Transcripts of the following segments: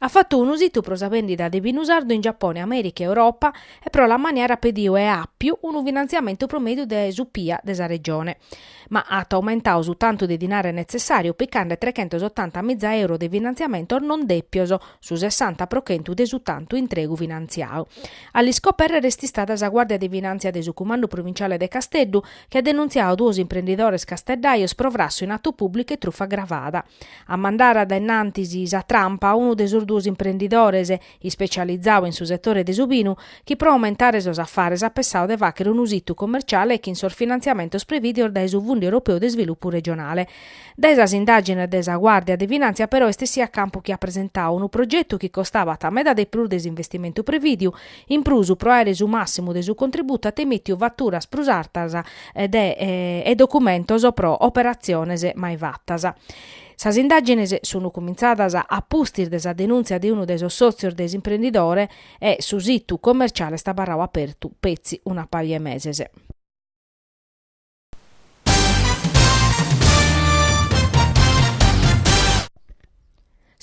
At fatu unu situ pro sa bèndida de binu sardu in Giapone, Amèrica e Europa e pro l'ammaniare at pediu e àpiu unu finantziamentu pro mèdiu de su PIA de sa Regione, ma at aumentadu su tantu de dinare netzessàriu picande trechentos otanta miza euro de finantziamentos non dèpios, su sessanta pro chentu de su tantu intregu finantziadu. A l'iscopèrrere est istada sa Guàrdia de Finàntzia de su Cumandu Provinciale de Casteddu, chi at denuntziadu duos imprendidores casteddajos pro frassu in atu pùblicu e trufa agravada. A mandare dae innantis sa trampa unu de sos duos imprendidores, ispecializadu in su setore de su binu, chi pro aumentare sos afares at pessadu de fàghere unu situ commerciale chin sos finantziamentos prevìdios dae su Fundu Europeu de Isvilupu Regionale. Dae sas indàgines de sa Guàrdia de Finàntzia però est essiu a campu chi at presentadu unu progetu chi costabat meda de prus de s'investimentu prevìdiu, In prus, pro àere su màssimu de su contributu at emìtiu faturas prus artas de e documentos pro operatziones mai fatas. Sas indàgines sun cumintzadas a pustis de sa denùntzia de unu de sos sòtzios de s'imprendidore e su situ commerciale est abarradu apertu petzi una paja 'e meses.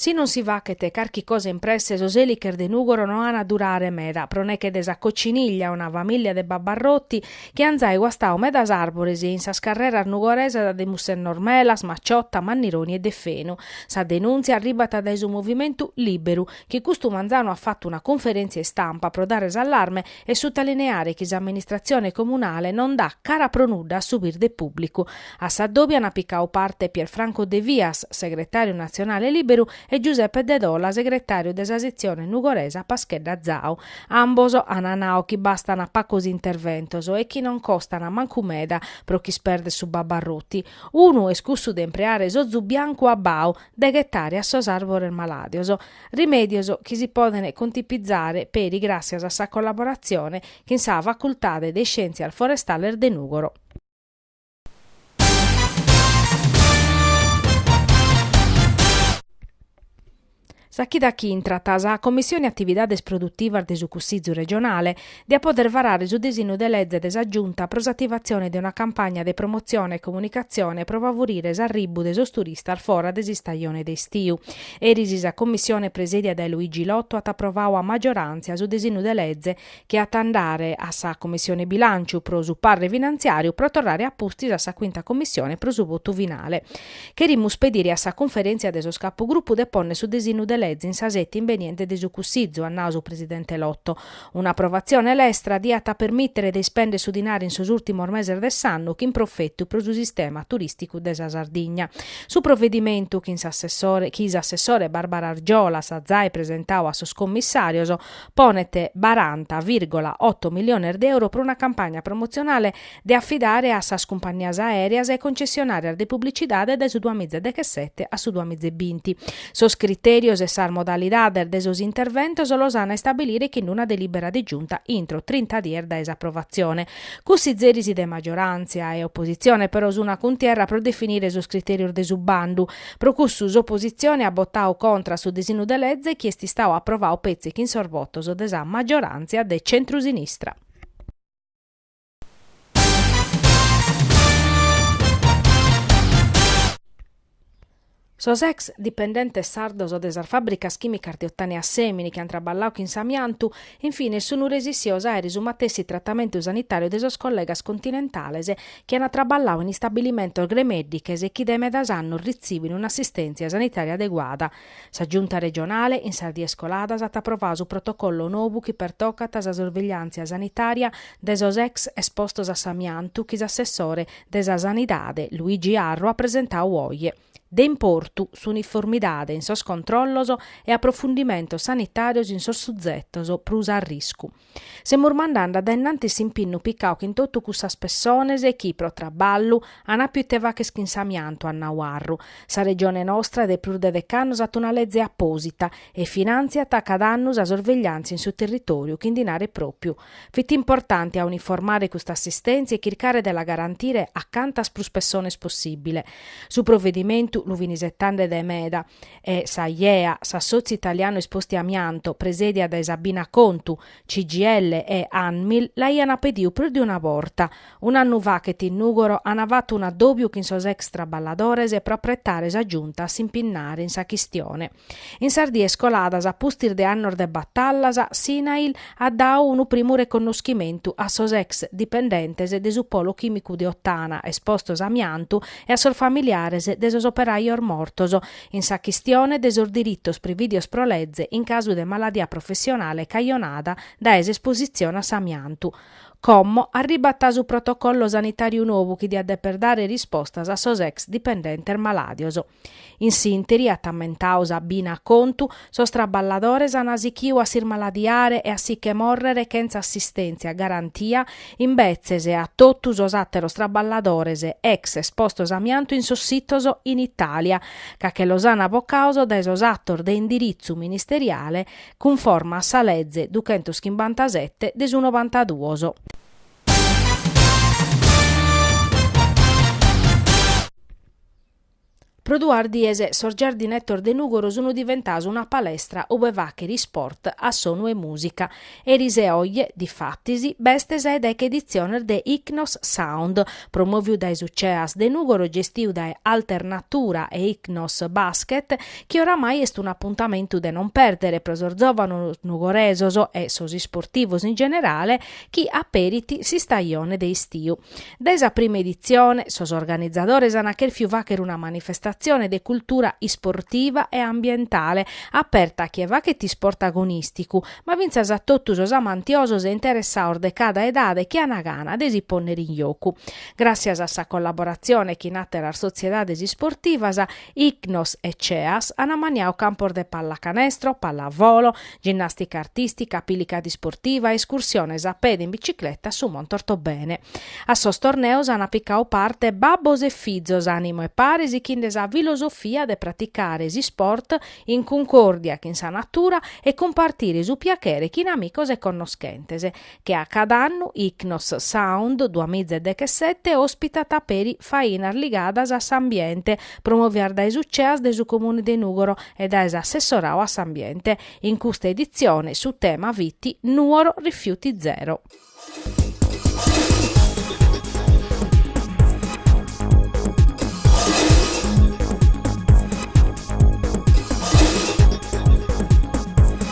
Si non si faghet carchi cosa in presse sos èliches de Nùgoro no an a durare meda, pro neche de sa Cociniglia, una famìllia de babbarrotti chi an zai guastadu medas àrbores in sas carreras nugoresas de Mussennor Melas, Maciotta, Mannironi e de Fenu. Sa denùntzia arribat dae su movimentu Lìberu chi custu manzanu at fatu una cunferèntzia istampa pro dare s'allarme e sutalineare chi s'amministratzione comunale non dat cara pro nudda a su birde pùblicu. A s'adòbiu ant picadu parte Pier Franco Devias, segretàriu natzionale Lìberu, e Giuseppe Dedola, segretàriu de sa setzione nugoresa Paschedda Zau. Ambos ant nadu chi bastant pagos interventos e chi non costant mancu meda pro ch'ispèrdere su babbarrotti. Unu est cussu de impreare s'ozu biancu abbau, de ghetare a sos àrbores malàdios, rimèdios chi si podent contipizare peri gràssias a sa collaboratzione chin sa Facultade de Iscièntzias Forestales de Nùgoro. Sa chida chi intrat sa Commissione Atividades Produtivas de su Cussizu Regionale diat poder varare su disinnu de leze de sa Giunta pro s'ativatzione de una campagna de promotzione e comunicatzione pro favorire s'arribbu de sos turistas fora de s'istajone de istiu. Eris sa Commissione presèdia dae Luigi Lotto at aprovadu a maggioràntzia su disinnu de leze chi at a andare a sa Commissione Bilànciu pro su parre finantziàriu pro torrare a pustis a sa Cuinta Commissione pro su votu finale. Cherimus pedire a sa Cunferèntzia de sos Capugrupu de pònnere su disinnu de leze in sa sete imbeniente de su Cussizu, at nadu su presidente Lotto. Un'aprovatzione lestra diat a permìtere de ispèndere su dinari in sos ùrtimos meses de s'annu chin profetu pro su sistema turìsticu de sa Sardigna. Su provedimentu chi s'assessore Barbara Argiolas at zai presentadu a sos commissàrios ponet baranta virgola oto miliones de euro pro una campagna promotzionale de afidare a sas cumpannias aèreas e concessionàrias de publicidade dae su duamiza e deghessete a su duamiza e binti. Sos critèrios e sas modalidades de sos interventos los an a istabilire chin una delìbera de Giunta intro trinta dies dae s'aprovatzione. Cussizeris de magioràntzia e opositzione però sunt a cuntierra pro definire sos critèrios de su bandu. Pro cussu s'opositzione at botadu contra a su disinnu de leze chi est istadu aprovadu petzi chin sos votos de sa magioràntzia de centrusinistra. Sos ex dipendentes sardos de sas fàbricas chìmicas de Ottana e Assèmini chi ant traballadu chin s'amiantu, in fines sunt resissios a àere su matessi tratamentu sanitàriu de sos collegas continentales chi ant traballadu in istabilimentos gremèddiches e chi dae medas annos ritzibin un'assistèntzia sanitària adeguada, Sa Giunta regionale, in sas dies coladas, at aprovadu su protocollo nou chi pertocat sa sorvegliàntzia sanitària de sos ex espostos a s'amiantu chi s'assessore de sa Sanidade, Luigi Arru, at presentadu oje. De importu, s'uniformidade in sos controllos e aprofundimentos sanitàrios in sos suzetos prus a arriscu. Semus mandande a dae innantis s'impinnu picau chin totu cussas pessones chi pro traballu an appiu ite fagher chin s'amiantu, at nau Arru. Sa Regione nostra de prus de dec'annus at una leze apposita e finantziat cada annu sa sorvegliantzia in su territoriu chin dinare propiu. Fit importante a uniformare custa assistentzia e chircare de la garantire a cantas prus pessones possibile. Su provedimentu lu fin isetande de meda e s'AIEA, s'Assotziu Italianu Esposti Amianto, presèdia dae Sabina Contu, CGIL e Anmil, l'aiant pediu prus de una borta. Un'annu faghet in Nùgoro ant fatu un'adòbiu chin sos ex traballadores pro apretare sa Giunta a s'impinnare in sa chistione. In sas dies coladas a pustis de annos de batallas, s'INAIL at dadu unu primu reconnoschimentu a sos ex dipendentes de su Polo Chìmicu de Ottana espostos a amiantu e a sos familiares de sos operajos mortos, in sa chistione de sos diritos prividios pro leze in casu de maladia professionale cajonada dae s'espositzione a s'amiantu. Como arribat su protocollo sanitàriu nou chi diat deper dare rispostas a sos ex dipendentes malàdios. In s'interi, at ammentau Sabina Acontu, sos traballadores an sichiu a s'ismaladiare e a si che morrere chentza assistèntzia garantia imbetzes a totu sos àteros traballadores ex espostos a amiantu in sos sitos in Itàlia, ca che los an bocaos dae sos atos de indiritzu ministeriale cunforma a sa leze duchentos chimbantasette de su novantaduos. Pro duas dies sos giardinettos de Nùgoro sun diventaos una palestra ube fàchere isport a sonu 'e mùsica. Eris e oje, difatis, b'est sa 'e deche editziones de Icnos Sound, promòviu dae su CEAS de Nùgoro gestiu dae Alternatura e Icnos Basket, chi oramai est un'apuntamentu de non pèrdere pro sos zòvanos nugoresos e sos isportivos in generale chi aperit s'istajone de istiu. Dae sa prima editzione, sos organizadores ant chèrfiu fàchere una manifestatzione de cultura isportiva e ambientale, aperta a chie fachet isport agonìsticu, ma fintzas a totu sos amantiosos e interessaos de cada edade chi ant gana de si pònnere in jocu. Gràtzias a sa collaboratzione chin àteras sotziedades isportivas, Icnos e CEAS ant ammaniau campos de pallacanestro, pallavolo, ginnàstica artìstica, apilicada isportiva, iscursiones a pede e in bicicleta a su Monte Ortobene. A sos torneos ant picau parte babbos e fizos a numene paris, sichinde sa filosofia de praticare s'isport in cuncòrdia chin sa natura e cumpartire su piachere chin amicos e connoschentes. che a cada annu Ichnos Sound duamiza e dechesete òspitat peri fainas ligadas a s'ambiente promovias dae su CEAS de su Comune de Nùgoro e dae s'Assessorau a s'Ambiente. In custa editzione su tema fit Nuoro rifiuti zero.